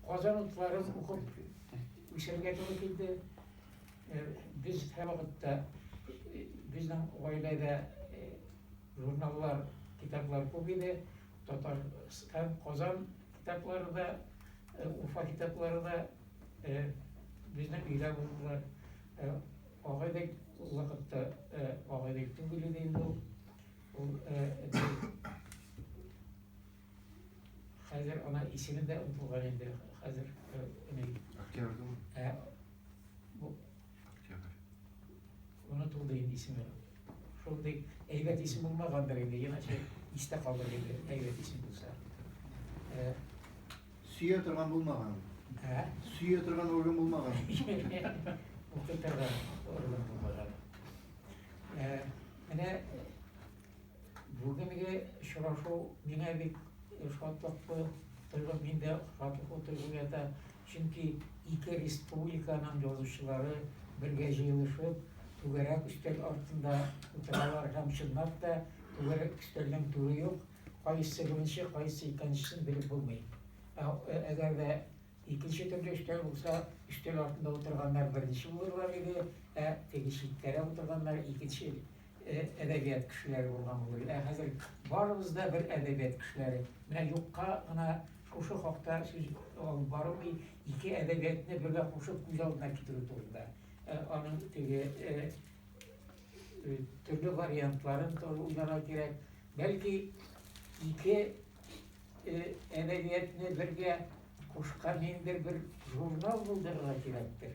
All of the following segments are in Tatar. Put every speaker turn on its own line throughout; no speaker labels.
Казан утларын укып үсәргә туры килде. Э, без һәрвакытта э, безнең гаиләдә э, журналлар, китаплар күп иде. Татар һәм Казан китаплары да, Уфа китаплары да безнең өйдә булдылар. Агайдек вакытта агайдек түгел иде инде ул. Ул Хәзер ана исеме дә онтылган инде хәзер ни.
Октябрьдәме? Ә
бу Октябрь. Онытылды инде исеме. Шундый әйбәт исем булмагандыр инде, иначе истә калыр иде, әйбәт исем булса. Ә
Сөя торган булмаган. Ә?
Сөя торган орган
булмаган.
Укытырга орган булмаган. Ә, менә Бүгенге очрашу миңа бик шатлыклы торган, мин дә шатлыклы торган ята, чөнки ике республиканың язучылары бергә җыелышып, түгәрәк өстәл артында утыралар һәм чынлап та түгәрәк өстәлнең түре юк, кайсы беренче, кайсы икенчесен белеп булмый. Әгәр дә икенче төрле өстәл булса, өстәл артында утырганнар беренче булырлар иде, ә теге читтәрәк утырганнар икенче әдәбият кешеләре булган булыр иде. Ә хәзер барыбыз да бер әдәбият кешеләре. Менә юкка гына шушы хакта сүз алып бару ки, ике әдәбиятны бергә кушып күз алдына китерү турында. Ә, аның теге ә, э, төрле вариантларын тоже уйларга кирәк. Бәлки ике э, әдәбиятны бергә кушкан ниндидер бер журнал булдырырга кирәктер.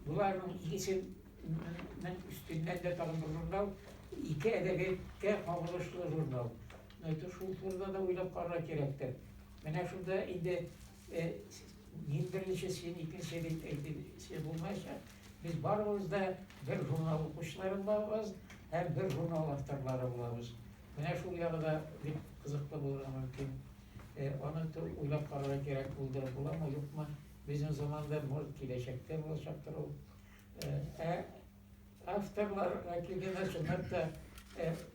Боларның икесе нең өстеннән дә тагын бер журнал, ике әдәбияткә кагылышлы журнал. Әйтү шул турыда да уйлап карарга кирәктер. Менә шунда инде мин беренче, син икенче дип әйтүче булмаячак. Без барыбыз да бер журнал укучылары булабыз һәм бер журнал авторлары булабыз. Менә шул ягы да бик кызыклы булырга мөмкин. Аны уйлап карарга кирәк булды, буламы, юкмы, безнең заманда, может, киләчәктә булачактыр ул. Ә авторлар вәкиленә, чынлап та,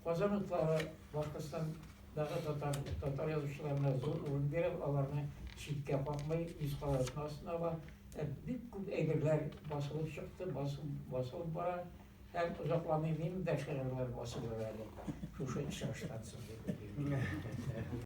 Казан утлары Башкортстандагы татар, татар язучыларына зур урын бирә, аларны читкә какмый, үз каләмнең астына ала. Бик күп әйберләр басылып чыкты, басылып бара. Һәм озакламый минем дә шигырьләр басылыр әле, шушы чыгыштан соң, дип уйлыйм.